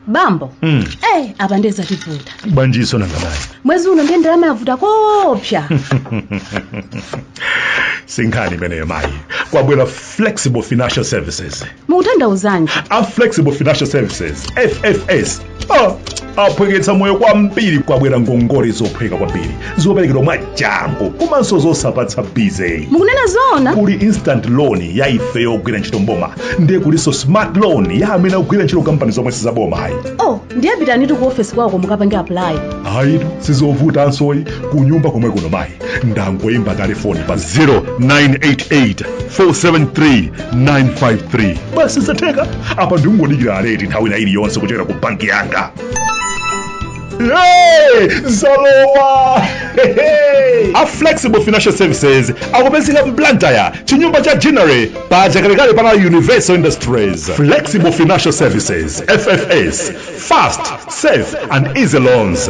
bambo Mm. eh apa ndiye zativuta bwanjinso nangabayi mwezi uno ndiye ndalama yavuta koopsa sinkhani imeneyo mayi kwabwera flexible financial services mukutanthauzanji a flexible financial services ffs Ah, aphweketsa moyo kwambiri kwabwera ngongole zophweka kwambiri zoperekedwa mwachangu komanso zosapatsa busy mukunena zoona kuli instant loan ya ife yogwira ntchito m'boma ndiye kulinso smart loan ya amene akugwira ntchito kampani zomwe sizaboma ayi oh ndiye pitanitu ku ofesi kwawoko mukapange apply ayitu sizovutansoyi kunyumba komwe kuno mayi ndangoyimba telefoni pa 0988 473 953 basi zatheka apa ndingodikira alert nthawi ina iliyonse kuchokera ku banki yanga Hey, zalowa a flexible financial services akupezeka m'blantyre chinyumba cha ginnery pa chakalekale pana universal industries flexible financial services ffs fast safe and easy loans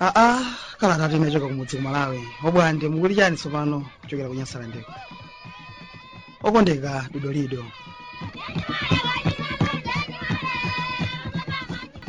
aa kalata yochoka kumudzi ku malawi bwande mukuli chani tsopano kuchokera ku nyasalandeko okondeka dodolido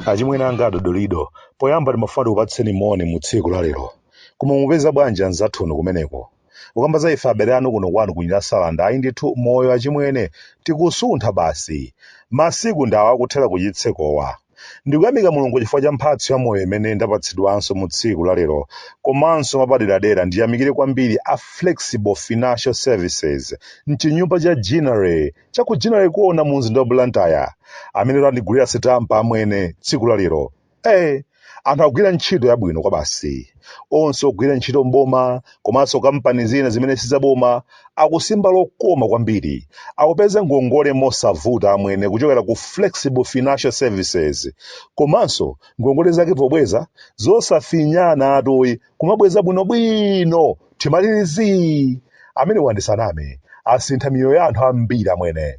achimwene anga adodolido poyamba ndimafuna ndikupatseni moni mu tsiku la lero koma mupeza bwanji anzathunu kumeneko kukamba za ife abale anu kuno kwanu ku nyasalande ayi ndithu moyo achimwene tikusuntha basi masiku ndi awa akuthera kuchitsekowa ndikuyamika mulungu chifukwa cha mphatso ya moyo imene ndapatsidwanso mu tsiku la lero komanso mwapaderadera ndiyamikire kwambiri a flexible financial services m'chinyumba cha ginnery cha ku ginnery corner mu mzinda wa blantyre amene andigulira sitampa amwene tsiku la lero Eh, anthu akugwira ntchito yabwino kwabasi. Onse ogwira ntchito m'boma komanso kampani zina zimene sizaboma akusimba lokoma kwambiri. Akupeza ngongole mosavuta amwene kuchokera ku Flexible Financial Services. Komanso ngongole zake pobweza zosafinyana atoyi kumabweza bwinobwino thimalirizi. Amwene ndisaname asintha miyoyo ya anthu ambiri amwene.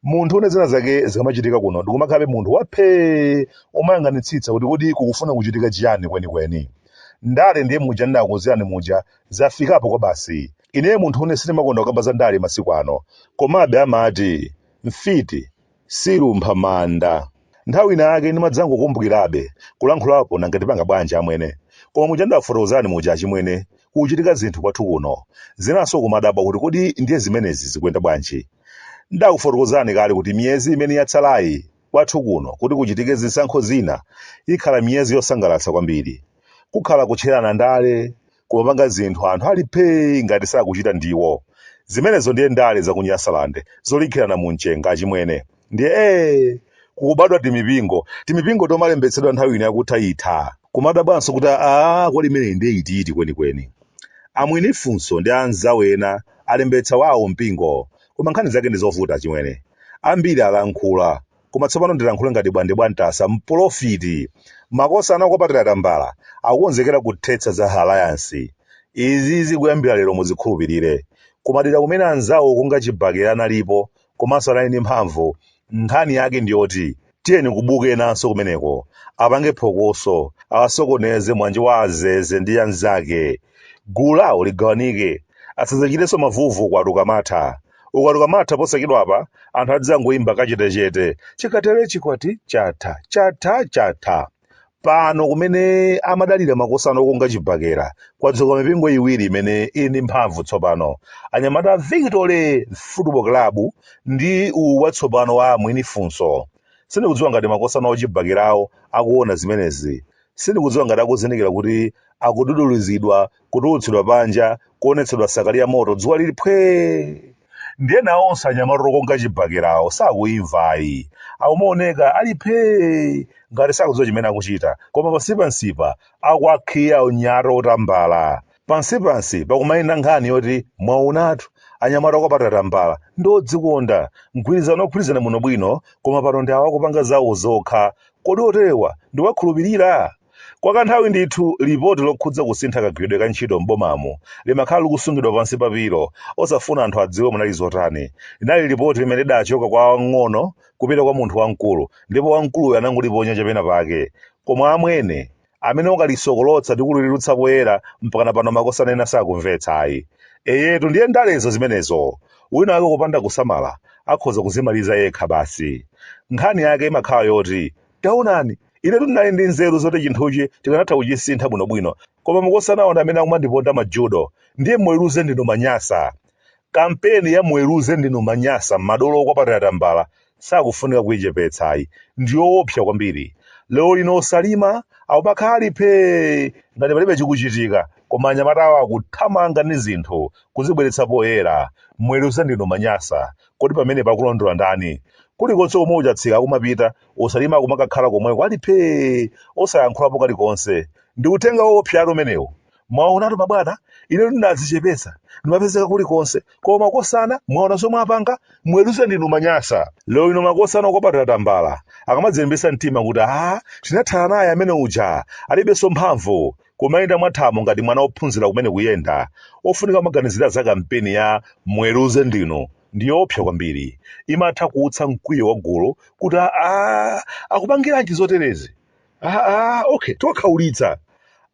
munthune zina zake zikamachitika kuno ndikumakhalabe munthu waphee kumayang'anitsitsa kuti kodi kukufuna kuchitika chiyani kwenikweni ndale ndiye muja ndinakuuzirani muja zafikapo kwa basi ineyo munthune sindimakonda kukamba za ndale masiku ano komabe amati mfiti siilumpha manda Nthawi ina yake ndimadzangokumbukirabe kulankhulapo nanga tipanga bwanji amwene. Koma muja ndakufotokozani muja achimwene, kukuchitika zinthu kwathu kuno. Zinanso kumadabwa kuti kodi ndiye zimenezi zikuyenda bwanji. Ndakufotokozani kale kuti miyezi imene yatsalayi kwathu kuno kuti kuchitike zisankho zina ikhala miyezi yosangalatsa kwambiri. Kukhala kutcherana ndale, kumapanga zinthu anthu ali phee ngati sakuchita ndiwo. Zimenezo ndiye ndale za ku Nyasaland zolikhirana mu mchenga achimwene. Ndiye ee! Kukubadwa timipingo, timipingo tomalembetsedwa nthawi ino yakutha itha. Kumadabwanso kuti aah kodi imeneyi ndiye itiiti kwenikweni. A Mwinifunso ndi anzawo ena alembetsa wawo mpingo. Koma nkhani zake ndi zovuta achimwene. Ambiri alankhula, Koma tsopano ndilankhule ngati bwande bwa ntasa, mporofiti. Makosana okwapatira tambala akukonzekera kuthetsa za Alliance. Izizi kuyambira lero muzikhulupirire. Kumadera kumene anzawo okunga chibakera analipo komanso anali ndi mphamvu, nkhani yake ndiyoti tiyeni kubuke enanso kumeneko, apange phokoso, awasokoneze Mwanje wa a Zeze ndi anzake. Gulu lawo ligawanike. Asadzachitenso mavuvu ukwati ukamatha. ukwati ukamatha posachedwapa anthu adzangoimba kachetechete chikatere chikwati chatha chatha chatha pano kumene amadalira makosana okunga chibakera kwadzuka mipingo iwiri imene ili ndi mphamvu tsopano anyamata a victory football club ndi uwu watsopano wa mwinifunso sindikudziwa ngati makosana ochibakerawo akuona zimenezi sindikudziwa ngati akuzindikira kuti akududuluzidwa kutulutsidwa panja, kuonetsedwa sakali ya moto, dzuwa lili phwee! Ndiye nawonso anyamata okunga chibakerawo sakuimva ayi. Akumaoneka ali phee! ngati sakudziwa chimene akuchita, koma pansipansipa akuwakhiya anyamata otambala. Pansipansi pakumayenda nkhani yoti, Mwaonatu, anyamata okwapatira tambala ndi odzikonda. Mgwirizano ogwirizana bwinobwino, koma pano ndi awa akupanga zawo zokha. Kodi oterewa ndiwakhulupirira? Kwa kanthawi ndithu, lipoti lokhudza kusintha kagwiridwe ka ntchito m'bomamu limakhala likusungidwa pansi pa pilo, osafuna anthu adziwe munali zotani. Linali lipoti limene lidachoka kwa wamng'ono kupita kwa munthu wamkulu, ndipo wamkuluyo anangoliponya cha pena pake. Koma amwene, amene ukalisokolotsa ndi kulitulutsa poyera, mpakana pano makosana ena sakumvetsa, ayi. Eyetu, ndiye ndalezo zimenezo! Wina wake kupanda kusamala, akhoza kudzimaliza yekha basi. Nkhani yake imakhala yoti, Taonani, inetu ndinali ndi nzeru zoti chinthuchi tikanatha kuchisintha bwinobwino, koma makosanawa ndi amene akumandiponda ma judo, ndiye muweruze ndinu manyasa. Kampeni ya muweruze ndinu manyasa madolo okwapatira tambala sakufunika kuichepetsa ayi, ndiyoopsa kwambiri. Lero lino osalima akubakhala ali phee ngati palibe chikuchitika, koma anyamata awo akuthamanga ndi zinthu kuzibweretsa poyera. Muweruze ndinu manyasa. Kodi pamenepa akulondola ndani? Kulikonse komwe ochatsika akumapita, osalima akumakakhala komweko ali phee! Osayankhulapo kalikonse. Ndi uthenga woopsatu umenewu. Mwaonatu mabwana, inetu ndinadzichepetsa, ndimapezeka kulikonse, koma makosana mwaona zomwe apanga? Muweruze ndinu Manyasa. Lero lino makosana okwapatira tambala, akamadzilimbitsa mtima kuti aah tinathana naye amene uja, alibenso mphamvu. Kumayenda mwa thamo ngati mwana ophunzira kumene kuyenda, ofunika kumaganizira za kampeni ya Muweruze ndinu ndiyoopsa kwambiri. Imatha kuutsa mkwiyo wa gulu kuti aah, akupangiranji zoterezi? Aah, okay, tiwakhaulitsa.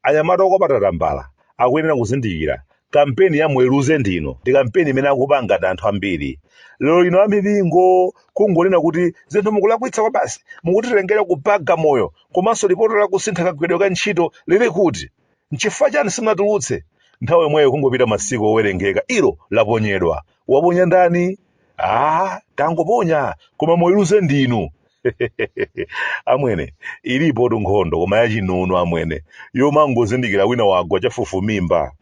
Anyamata akwapata tambala akuyenera kuzindikira kampeni ya muweruze ndinu ndi kampeni imene akupanga ndi anthu ambiri lero lino amipingo kungonena kuti zinthu mukulakwitsa kwa basi mukutitengera kupaga moyo komanso lipoti la kusintha kagwiridwe ka ntchito lili kuti nchifukwa chani simunatulutse nthawi yomweyo kungopita masiku owerengeka ilo laponyedwa waponya ndani ah tangoponya koma muweruze ndinu amwene ilipotu nkhondo koma yachinunu amwene yomangozindikira wina wagwa chafufumimba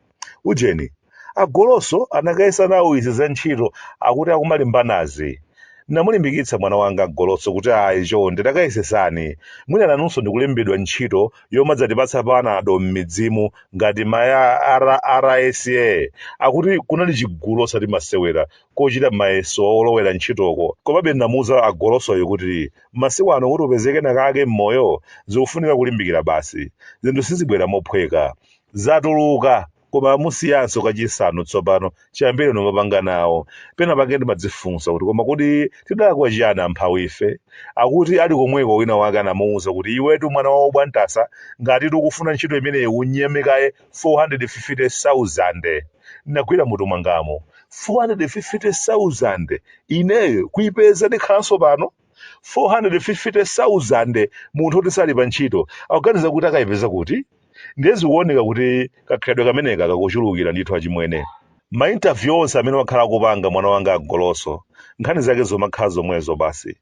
ujeni agoloso anakayesa nawo izi za ntchito akuti akumalembanazi ndinamulimbikitsa mwana wanga agoloso kuti ayi chonde takayesesani mwina nanunso n'kulembedwa ntchito yomadzatipatsa panado m'midzimu ngati maya rsa akuti kunali chigulu osati masewera kochita mayeso olowera ntchitoko. Komabe ndinamuuza a Golosoyo kuti, Masiku ano kuti upeze kenakake m'moyo, zikufunika kulimbikira basi. Zinthu sizibwera mophweka. Zatuluka, koma amusiyanso kachisanu tsopano chiyambireni kumapanga nawo. Penapake ndimadzifunsa kuti, koma kodi tidalakwa chiyani amphawife? Akuti ali komweko wina wake anamuuza kuti, Iwetu mwana wa wobwantasa, ngatitu ukufuna ntchito imeneyi unyeme kaye 450,000 nagwira mutu wangawu 450,000 ineyo kuipeza ndikhalanso pano 450,000 munthu oti sali pa ntchito akuganiza kuti akayipeza kuti ndiye zikuoneka kuti kakhalidwe kameneka kakuchulukira ndithu achimwene mainterview onse amene wakhala akupanga mwana wanga agoloso nkhani zake zomakhala zomwezo basi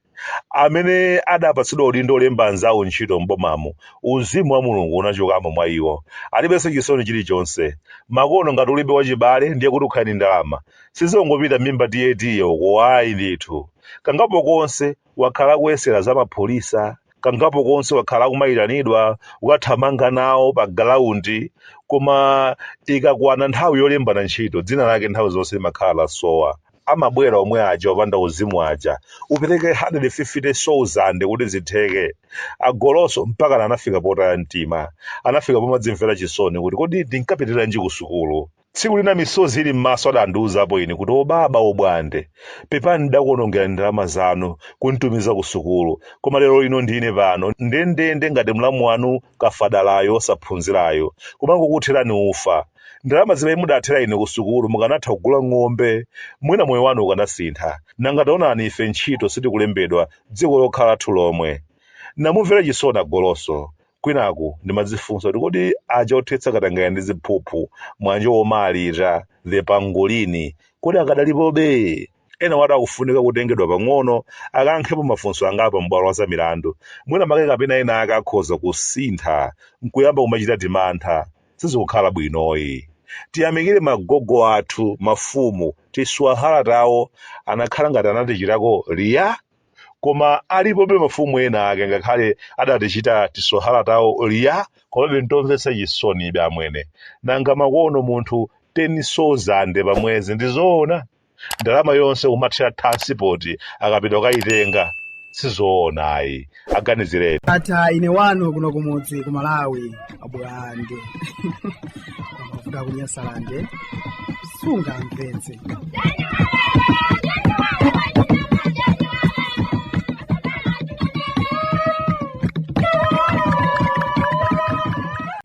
amene adapatsidwa udindo olemba anzawo ntchito m'bomamu, uzimu wa Mulungu unachokamo mwa iwo. Alibenso chisoni chilichonse. Makono ngati ulibe wachibale ndiye kuti ukhale ndi ndalama. Sizongopita m'mimba tiyetiye uko ayi ndithu. Kangapo konse wakhala akuyesera za upolisi. Kangapo konse wakhala akumayitanidwa kukathamanga nawo pa galaundi. Koma ikakwana nthawi yolembana ntchito, dzina lake nthawi zonse limakhala lasowa. amabwera omwe aja opanda uzimu aja upereke 150 souzande kuti zitheke agoloso mpakana anafika potaya mtima anafika pomadzimvera chisoni kuti kodi ndinkapitiranji ku sukulu tsiku lina misozi ili m'maso adandiuzapo ine kuti obaba obwande pepani ndidakuonongerani ndalama zanu kunditumiza ku sukulu koma lero lino ndine pano ndendende ngati mlamu wanu kafadalayo osaphunzirayo kumangokuthirani ufa Ndalama zimene mudathera ine kusukulu mukanatha kugula ng'ombe, mwina moyo wanu ukanasintha. Nanga taonani ife ntchito sitikulembedwa, dziko lokhala lathu lomwe. Namumvera chisoni a Goloso. Kwinaku ndimadzifunsa kuti kodi aja othetsa katangale ndi ziphuphu, mwa njomba Alita, the Pangolini, kodi akadalipobe? Enawatu akufunika kutengedwa pang'ono akayankhepo mafunso angapo pabwalo la zamilandu. Mwina make kapena enaake akhoza kusintha n'kuyamba kumachita timantha. sizikukhala bwinoyi. Tiyamikire magogo athu, mafumu, tiswahala tawo anakhala ngati anatichitako liya? Koma alipobe mafumu ena ake ngakhale adatichita tiswahala tawo liya komabe ntomvetsa chisonibe amwene. Nanga makuno munthu 10 souzande pa mwezi ndi zoona? ndalama yonse kumathera thiransipoti akapita kukayitenga sizoona ayi aganizireni. ndatha ine wanu kuno kumudzi ku malawi abulande amavuta kunyasalande sungamvetse